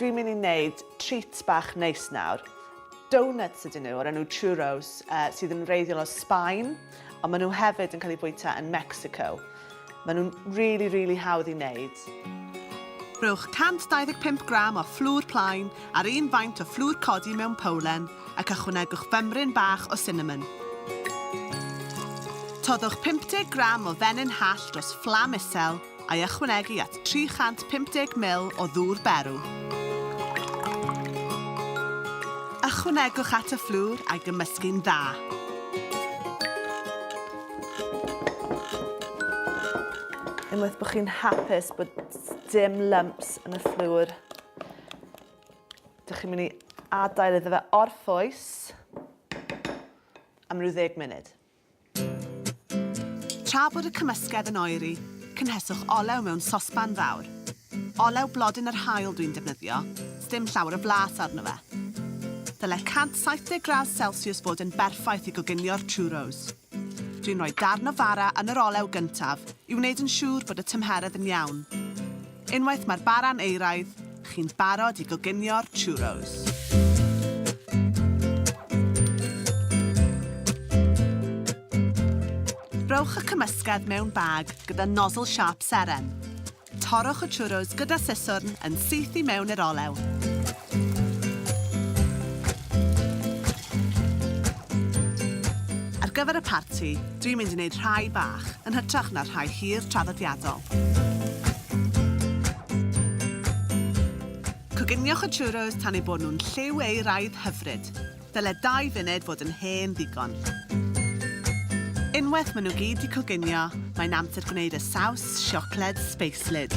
Dwi'n mynd i wneud treat bach neis nawr. Donuts ydyn nhw o'r enw churros uh, sydd yn wreiddiol o Sbaen, ond maen nhw hefyd yn cael eu bwyta yn Mexico. Maen nhw'n rili, rili hawdd i wneud. Rhowch 125 gram o fflwr plaen ar un faint o fflwr codi mewn powlen ac ychwanegwch fymryn bach o sinamon. Toddwch 50 gram o fenyn hall dros fflam isel a'i ychwanegu at 350 ml o ddŵr berw. Ychwanegwch at y fflwr a'i gymysgu'n dda. Unwaith bod chi'n hapus bod dim lumps yn y fflwr, dych chi'n mynd i adael iddo fe orffwys am rhyw ddeg munud. Tra bod y cymysgedd yn oeri, cynheswch olew mewn sosban fawr. Olew blodyn yr haul dwi'n defnyddio, sdim llawer o blas arno fe. Dyle 170 gradd celsiws fod yn berffaith i goginio'r churros. Dwi'n rhoi darn o fara yn yr olew gyntaf i wneud yn siŵr bod y tymheredd yn iawn. Unwaith mae'r bara'n euraidd, chi'n barod i goginio'r churros. Rhowch y cymysgedd mewn bag gyda nozzle sharp seren. Torrwch y churros gyda siswrn yn syth i mewn i'r olew. Ar gyfer y parti, dwi'n mynd i wneud rhai bach, yn hytrach na'r rhai hir traddodiadol. Coginiwch y churros tan eu bod nhw'n lliw eu raidd hyfryd. Dyle dau funed fod yn hen ddigon. Unwaith maen nhw gyd 'di coginio, mae'n amser gwneud y saws siocled sbeislyd.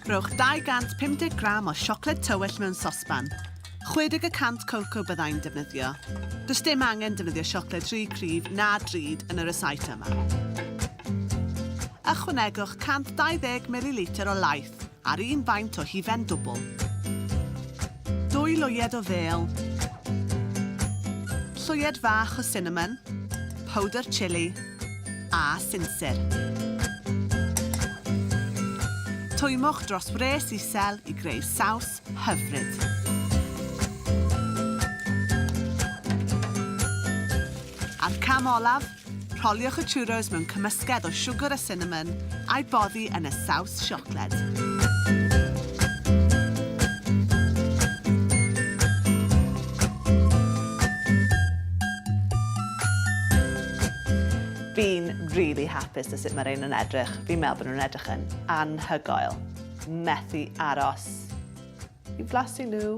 Rhowch 250 gram o siocled tywyll mewn sosban. 60 y cant coco byddai'n defnyddio. Does dim angen defnyddio siocled rhy cryf na drud yn y resit yma. Ychwanegwch 120 mililitr o laeth Fflwc, a'r un faint o hufen dwbl. Dwy lwyed o fêl. Llwyed fach o sinamon, powdr chili a sinsir. Twymwch dros wres isel i greu saws hyfryd. A'r cam olaf, Rholiwch y churros mewn cymysgedd o siwgr a sinamon, a'i boddi yn y saws siocled. Fi'n rili hapus 'da sut ma' rhein yn edrych. Fi'n meddwl bo' nhw'n edrych yn anhygoel. Methu aros i flasu nhw.